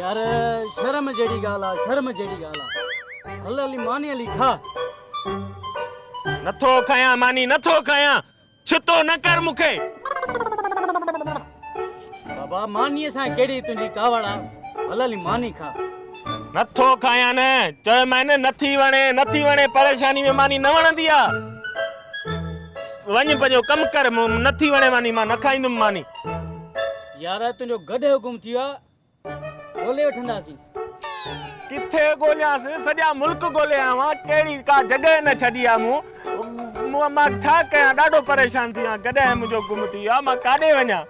يار شرم جهڙي ڳالهه آ شرم جهڙي ڳالهه آ هل علي ماني علي کا. نٿو کايان ماني نٿو کايان ڇتو نه ڪر مون کي. بابا ماني سان ڪهڙي تنهنجي ڪاوڙ آ هل علي ماني کا. نٿو کايان نه چيومانء نٿي وڻي نٿي وڻي پريشاني ۾ ماني نه وڻندي آ وڃ پنهنجو ڪم ڪر مون نٿي وڻي ماني مان نه کائيندم ماني. يار تنهنجو گڏهه گم ٿي ويو آهي ڳولي وٺنداسين. ڪٿي ڳوليانس سڄا ملڪ ڳولي آيو آهيان ڪهڙي ڪا جڳهه نه ڇڏي آهي مون مان ڇا ڪيان ڏاڍو پريشان ٿي ويو آهيان گڏهه منهنجو گم ٿي ويو آهي مان ڪاڏي وڃان.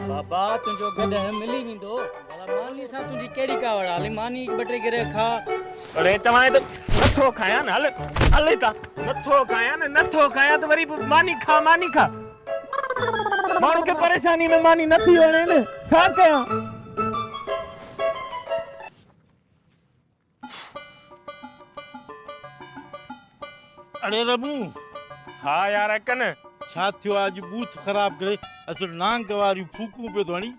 بابا تنهنجو گڏهه ملي ويندو ڀلا ماني سان تنهنجي ڪهڙي ڪاوڙ آهي هلي ماني ٻه ٽي گرهه کاء. اڙي چوانء ته نٿو کايان هل هل هتان. نٿو کايان نه نٿو کايان ته وري به ماني کاء ماني کاء. ماڻهو کي پريشاني ۾ ماني نه ٿي وڻي نه ڇا ڪيان. اڙي ربو ها يار اڪن ڇا ٿيو آ اڄ بوٿ خراب ڪري اصل نانگ واريون ڦوڪون پيو ٿو هڻي.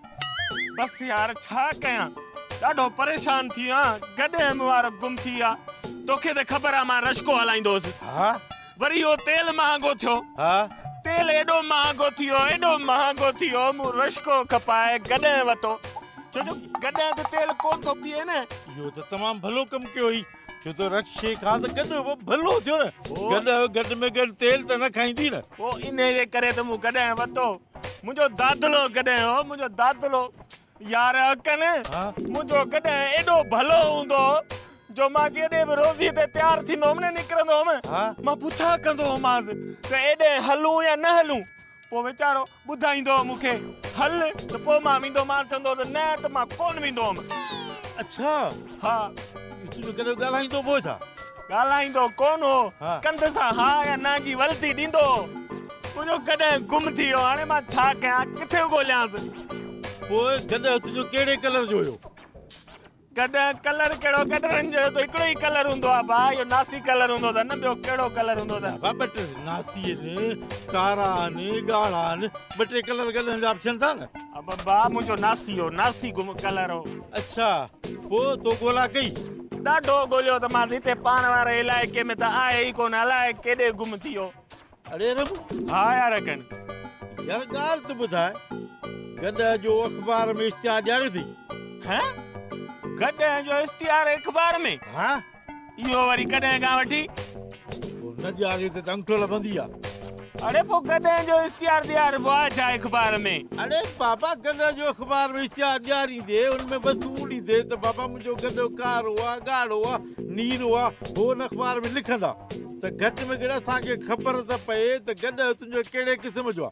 بس يار ڇا ڪيان ڏاڍو پريشان ٿي ويو آهيان گڏهه ۾ وارو گم ٿي ويو آ توکي ته خبر آ مان رشڪو هلائيندو هوس. ها وري اهو تيل مهانگو ٿيو. ها. تيل ايڏو مهانگو ٿيو، ايڏو مهانگو ٿيو، مون رشڪو کپائي گڏهه وتو، ڇو جو گڏهه ته تيل ڪونه ٿو پيئي نه. اهو ته تمام ڀلو ڪم ڪيو هي، ڇو ته رڪشي کان ته گڏهه به ڀلو ٿيو نه. گڏهه گڏ ۾ گڏ تيل ته نه کائيندي نه. پوء انهيء جي ڪري ته مون گڏهه وتو. منهنجو دادلو گڏهه هو، منهنجو دادلو. يار اڪن، منهنجو ڪڏهن ايڏو ڀلو هوندو جو مان ڪيڏي به روزي تي تيار ٿيندو هوم نه نڪرندو هوم. مان پڇا ڪندو هومانس ته ايڏي هلون يا نه هلون؟ پوء ويچارو ٻڌائيندو هو مون کي هل ته پوء مان ويندو مان چوندو ته نه ته مان ڪونه ويندو هوم. اڇا! ها. تون ڪڏهن ڳالهائيندو به هو ڇا؟ ڳالهائيندو ڪونه هو، ڪنڌ سان ها يا نه جي ولتي ڏيندو هو. تنهنجو گڏهه گم ٿي ويو، هاڻي مان ڇا ڪيان، ڪٿي ڳوليانس؟ پوء گڏهه تنهنجو ڪهڙي ڪلر جو هيو؟ گڏهه، ڪلر ڪهڙو، گڏهن جو ته هڪڙو ئي ڪلر هوندو آهي ڀاء، اهو ناسي ڪلر هوندو اٿن، ٻيو ڪهڙو ڪلر هوندو اٿن؟ ڀاء ٻه ٽي ناسي آهن، ڪارا آهن، ڳاڙها آهن، ٻه ٽي ڪلر گڏهن جا به ٿين ٿا نه. ڀاء منهنجو ناسي هو، ناسي گم ڪلر هو. اڇا، پوء تو ڳولا ڪئي؟ ڏاڍو ڳوليو ته مان هتي پاڻ واري علائقي ۾ ته آهي ئي ڪونه الاء ڪيڏي گم ٿي ويو. اڙي رب! ها يار اڪن! يار ڳالهه ته ٻڌاء، گڏهه جو اخبار ۾ اشتهار ڏياريو اٿئي؟ هه؟ گڏهه جو اشتهار اخبار ۾؟ ها! اهو وري ڪڏهن کان وٺي؟ نه ڏياري ته انگٺو لڀندي آ. اڙي پو گڏهه جو اشتهار ڏياربو آ ڇا اخبار ۾؟ اڙي بابا گڏهه جو اخبار ۾ اشتهار ڏياريندي ان ۾ بس اهو ڏيندي ته بابا منهنجو گڏهه ڪارو آ ڳاڙهو آ نيرو آ پو ان اخبار ۾ لکندا ته گهٽ ۾ گهٽ اسان کي خبر ته پئي ته گڏهه تنهنجو ڪهڙي قسم جو آ.